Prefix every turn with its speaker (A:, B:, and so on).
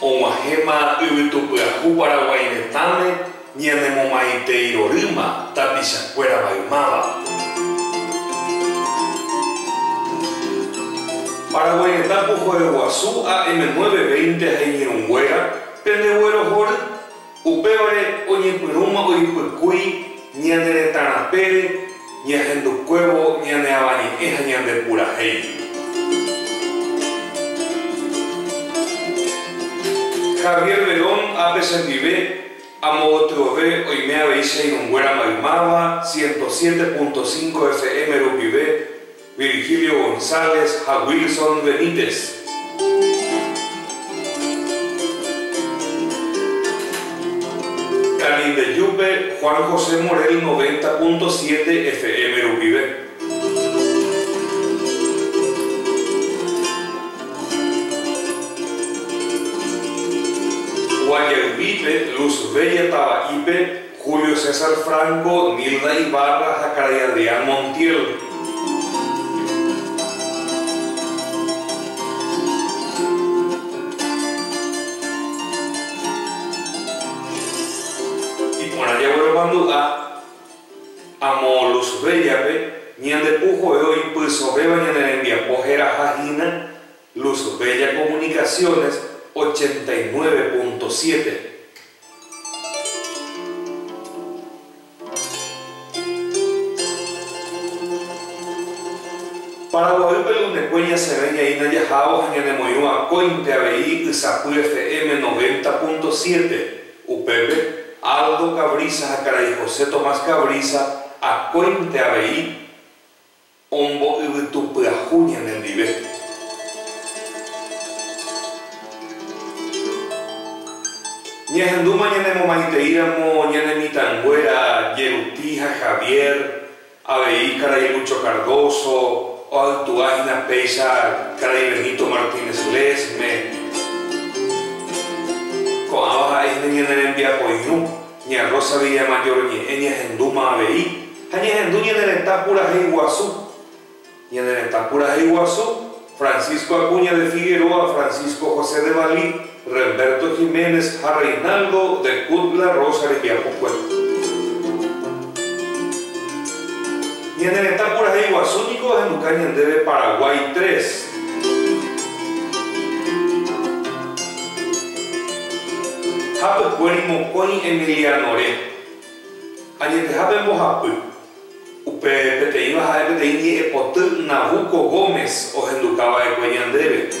A: Og̃uahẽma yvytupyahu Paraguái retãme ñanemomaite irorýma tapichakuéra maymáva. Paraguái retã pohoeguasu AM9 veinte ha iñirũnguéra pende guerohory. Upévare oñepyrũma oipykúi ñane retã rapére ñahendukuévo ñane avañe'ẽ ha ñande purahéi ndive. Javier Verón ápe chendive amogotyove oime avei che irũnguéra maymáva 107.5 FM rupive, Virgilio González ha Wilson Benítez. Canindeyúpe Juan José Morel noventa punto siete FM rupive. Guajayguípe Luz Bella Tava'ípe. Julio César Franco, Nilda Ibarra ha karai Adrián Montiel. Iporã jagueromandu'a amo Luz Bella-pe, ñande pu jove oipysovéva ñane rembiapo heraha hína, Luz Bella Comunicaciones ochenta y nueve punto siete. Paraguaýpe lunekue ñasẽrãi ñaína jahávo ha ñanemoirũ akóinte avei Ysapy FM noventa punto siete. Upépe, Aldo Cabrisa ha karai José Tomás Cabrisa akóinte avei. Ombo'yvytu pyahu ñanendive. Ñahendúma ñanemomaiteíramo ñane mitãnguéra Jeruti ha Javier, avei karai Lucho Cardoso, oaitúa hína péicha karai Benito Martínez Lesme. Ko'ãva ha'e hína ñane rembiapoirũ. Ña Rosa Villamayor ñe'ẽ ñahendúma avei ha ñahendu ñane retã purahéi guasu. Ñane retã purahéi guasu, Francisco Acuña de Figueroa, Francisco José de Valí, Remberto Jiménez ha Reinaldo de Cut la Rosa rejapokue. Ñane retã purahéi guasu niko ohenduka ñandéve Paraguay tres. Hapykuéri mokõi Emilianore. Añeteha pe mbohapy. Upe peteĩva ha'e peteĩ ñe'ẽpoty Nabucco Gómez ohenduka va'ekue ñandéve.